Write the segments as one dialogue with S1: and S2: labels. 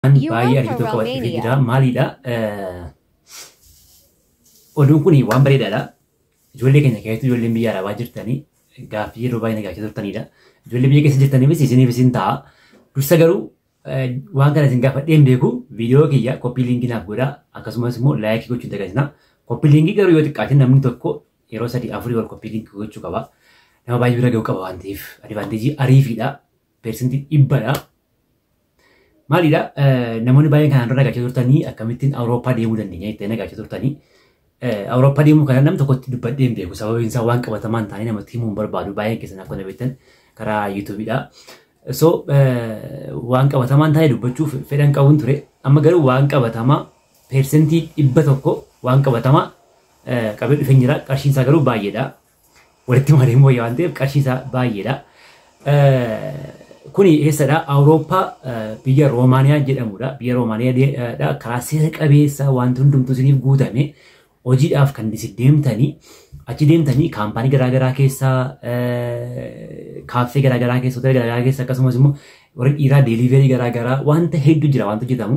S1: Ani You baay'ee are argitoo from qabachuuf Romania. jira maaliidha oduun kun waan bareedaadha ijoollee keenya keessattuu ijoolleen biyya arabaa jirtanii gaaffii yeroo baay'ee nagaachaa turtanidha ijoollee biyya keessa jirtaniifis isiniif isin ta'a dursa garuu eh, waan kana isin gaafadhee hin beeku viidiyoo kiyya koppii liinkii naaf godhaa akkasumas immoo laayikii gochuun dagatina koppii liinkii garuu yoo xiqqaate namni tokko yeroo sadii afurii wal koppii liinkii gochuu qaba nama baay'ee bira ga'uu qaba waan ta'eef adivaanteejii ariifiidha persentii dhibbadha Maalidha namoonni baay'een kanaan dura gaachaa turtanii akkamittiin Awurooppaa deemuu dandeenya jettee gaachaa turtanii. Awurooppaa deemuu kana nam tokkotti dubbadhee hin beeku sababiin isaa waan qabatamaan taanee namatti himuu hin barbaadu baay'een keessan akka na beektan karaa yuutuubiidha. So waan qabatamaan taanee dubbachuuf fedhan qabuun ture amma garuu waan qabatamaa peersentii dhibba tokko waan qabatamaa qabee dhufeen jira qarshiin isaa garuu baay'eedha. walitti malee mooyya waan ta'eef qarshii isaa baay'eedha. Kuni eessadha? Awurooppaa biyya Roomaaniyaa jedhamudha. Biyya Roomaaniyaadha. Karaa seera qabeessa wanti hundumtuu isiniif guutame hojiidhaaf kan isin deemtanii achi deemtanii kaampaanii garaagaraa keessa kaaffee garaagaraa keessa hoteela garaagaraa keessa akkasumas immoo warri dhiiraa deeliiveerii garaagaraa wanta hedduu jira wanta hojjetamu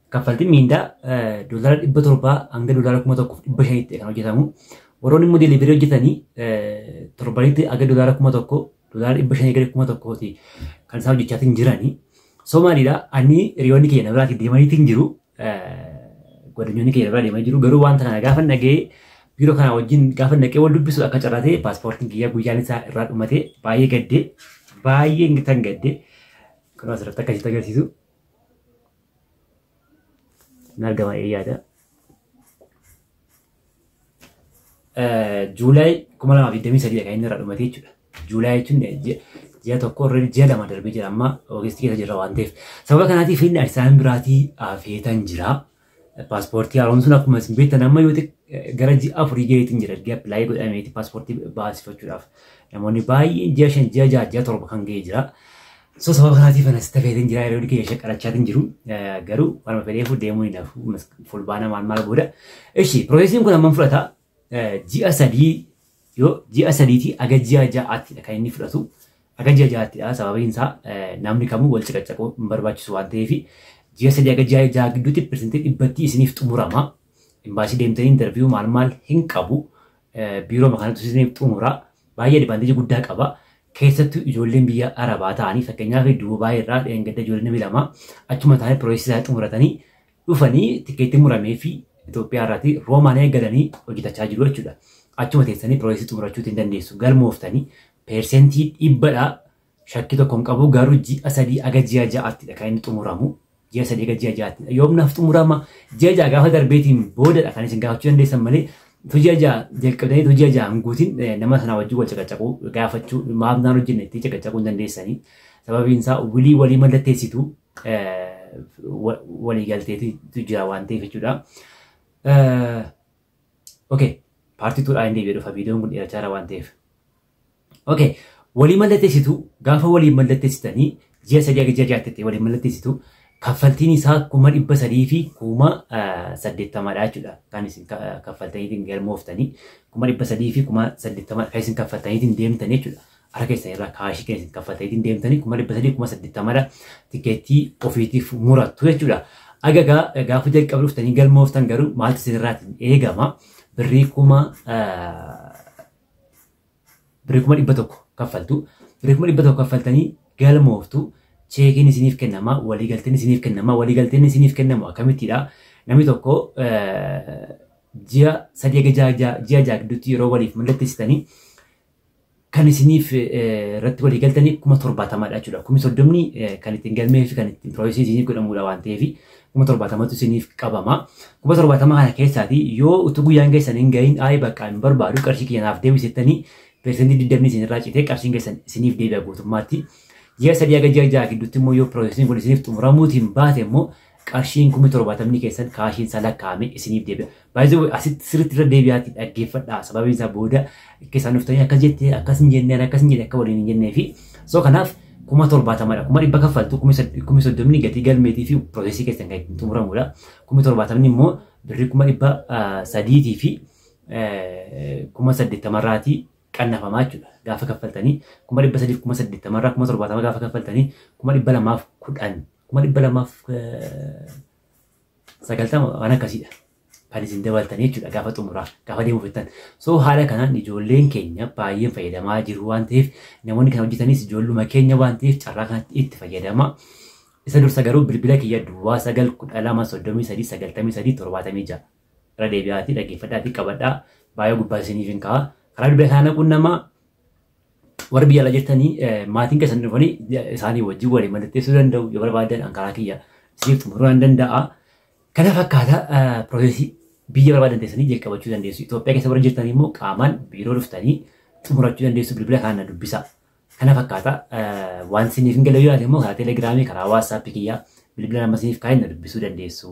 S1: Kaffaltiin miindaa doolaara dhibba torbaa hanga doolaara kuma tokkoof dhibba shanitti kan hojjetamu. Warroonni immoo delivery hojjetanii torbanitti hanga doolaara kuma tokko doolaara dhibba shanii gara kuma tokkooti kan isaan hojjechaatiin jiranii. So maalidha ani hiriyoonni keenya biraati deemaniitiin jiru. Godinyoonni keenya biraa deemanii jiru. Garuu wanta kana gaafa dhaga'ee biiroo kana wajjin gaafa dhaqee wal dubbisu akka carraatee paaspoortiin kiyya guyyaan isaa irraa dhumatee baay'ee gaddee baay'ee ingitan gaddee kan asirratti akkasitti agarsiisu hin argama jedhee yaada. Juulaay 2023 kan inni irra dhumate jechuudha. Juulaay jechuun ji'a- ji'a tokko irra ji'a lama darbee jira amma Ogeestii keessa jirra waan ta'eef. Sababa kanaatiif inni Addis Ababa biraatii afeetan jira. Paaspoortii haaromsuun akkuma isin beektan amma yoo gara ji'a afurii gaheetiin jira erga appilaayii godhameeti paaspoortii baasifachuudhaaf namoonni baay'een ji'a shan ji'a ja'a ji'a torba kan gahee jira. So sababa kanaatiif anas tafeetiin jira yeroo kiyya shaqarachaatiin jiru garuu waanuma fedheefu deemuu hin hafu fulbaana maal maal booda. Ishi piroosesiin kun amman fudhata ji'a sadii yoo ji'a sadiitii aga ji'a ja'aattidha kan inni fudhatu. Aga ji'a ja'aattidha sababiin isaa namni kamuu wal caqacaquu hin barbaachisu waan ta'eef ji'a sadii aga ji'a ja'a gidduutti pirsentii dhibbattii isiniif xumurama. Imbaasii deemtanii intarviiyuu maal maal hin qabu. Biiroo kanatu isiniif xumura. Baay'ee advaanteejii guddaa qaba. Keessattuu ijoolleen biyya Arabaa ta'anii fakkeenyaaf Duubaay irraa dheengadda ijoolleen lama achuma ta'anii piroosesii isaanii xumuratanii dhufanii tikeetti muramee fi Itoophiyaa irraati Roomaaniyaa galanii hojjetachaa jiru jechuudha. Achuma teessanii piroosesii xumurachuutti hin dandeessu. Galmooftanii peersentii dhibbadha shakkii tokko hin qabu garuu ji'a sadii aga ji'a ja'aattidha kan inni xumuramu. Ji'a sadii aga ji'a ja'aattidha. Yoom naaf xumurama ji'a ja'a gaafa darbeetiin boodadha kan isin gaafachuu dandeessan malee utuu ji'a ja'a jalqabdanii utuu ji'a ja'a hin guutin nama sanaa wajjin wal caqacaquu gaafachuu maaf naan hojjenne itti caqacaquu hin dandeessanii. Sababiin isaa wilii walii mallatteessitu waliigalteetu jira waan ta'eef jechuudha. Okay, paartii tuudhaa hin deebi'ee dhufa viidiyoon kun dheerachaa jira waan ta'eef. Okay, walii mallatteessitu gaafa walii mallatteessitanii ji'a sadii hanga ji'a jaatti ta'e walii mallatteessitu kaffaltiin isaa kuma dhibba sadii fi kuma saddeettamadha jechuudha. Kan isin kaffaltaniitiin galmooftanii kuma dhibba sadii fi kuma saddeettamadha kan isin kaffaltaniitiin deemtan jechuudha. Harka keessan irraa kaashii kan isin kaffaltaniitiin deemtanii kuma dhibba sadii kuma saddeettamadha tikeettii ofiitiif murattu jechuudha. Agagaa gaafa jalqaba dhuftanii galmooftan garuu maaltu isinirraatiin eegama birrii kuma birrii kuma dhibba tokko kaffaltu birrii kuma dhibba tokko kaffaltanii galmooftu cheekiin isiniif kennama waliigalteen isiniif kennama waliigalteen isiniif kennamu akkamittidha namni tokko ji'a sadii egaa ji'a ja'a gidduutti yeroo waliif mallatteessitanii kan isiniif irratti walii galtanii kuma torbaatamadha jechuudha. Kumi soddomni kan ittiin galmee fi kan ittiin pirooyisii isiniif godhamudha waan ta'eef kuma torbaatamatu isiniif qabama. Kuma torbaatama kana keessaati yoo utuu guyyaan keessan hin gahin ayi bakka hin barbaadu qarshii kiyya naaf deebisettanii persentii digdamni isinirraa citee qarshiin keessan isiniif deebi'a guutummaatti. Ji'a sadii haga ji'a ja'a gidduutti immoo yoo pirooyisiin kun isiniif xumuramuutiin baate immoo Qarshiin kumni torbaatamni keessan kaashiin isaa lakkaa'ame isiniif deebi'a. By the way asitti sirriitti irra deebi'aati dhaggeeffadhaa sababiin isaa booda keessaan dhuftanii akkas jettee akkas hin jennee akkas hin jenne akka waliin hin jennee fi so kanaaf kuma torbaatamadha kuma dhibba kaffaltu kumi soddomni gatii galmeetii fi piroosesii keessan kan ittiin xumuramudha kumi torbaatamni immoo birrii kuma dhibba sadiitii fi kuma saddeettamarraatii qannafamaa jechuudha. Gaafa kaffaltanii kuma dhibba sadiif kuma saddeettama irraa kuma torbaatama gaafa kaffaltanii kuma dhibba lamaaf kudhan kuma dhibba lamaaf sagaltama waan akkasiidha. Kan isin dabaltanii jechuudha gaafa xumuraa gaafa deemuu fettan. So haala kanaan ijoolleen keenya baay'een fayyadamaa jiru waan ta'eef namoonni kan hojjetanis ijoolluma keenya waan ta'eef carraa kanatti itti fayyadamaa. Isa dursa garuu bilbila kiyya duwwaa sagal kudha lama soddomii sadii sagaltamii sadii torbaatamii ja'a. Irra deebi'aatii dhaggeeffadhaatii qabadhaa. Baay'ee gubbaa isiniif hin ka'a. Karaa bilbila isaa naquun nama warri biyya ala jirtanii eh, maatiin keessan dhufanii ja- isaanii wajjin walii mallatteessuu danda'u yoo barbaadan an karaa kiyya isiniif xumuruu nan danda'a. Kana fakkaata eh, piroosesii biyya barbaadan teessanii jalqabachuu dandeessu. Itoophiyaa keessa warri jirtan immoo qaamaan biiroo dhuftanii xumurachuu dandeessu bilbila kana na dubbisa. Kana fakkaata waan isiniif hin galee yoo yaade immoo karaa telegiraamii karaa waatsaappii kiyyaa bilbila nama isiniif kaa'een na dubbisuu dandeessu.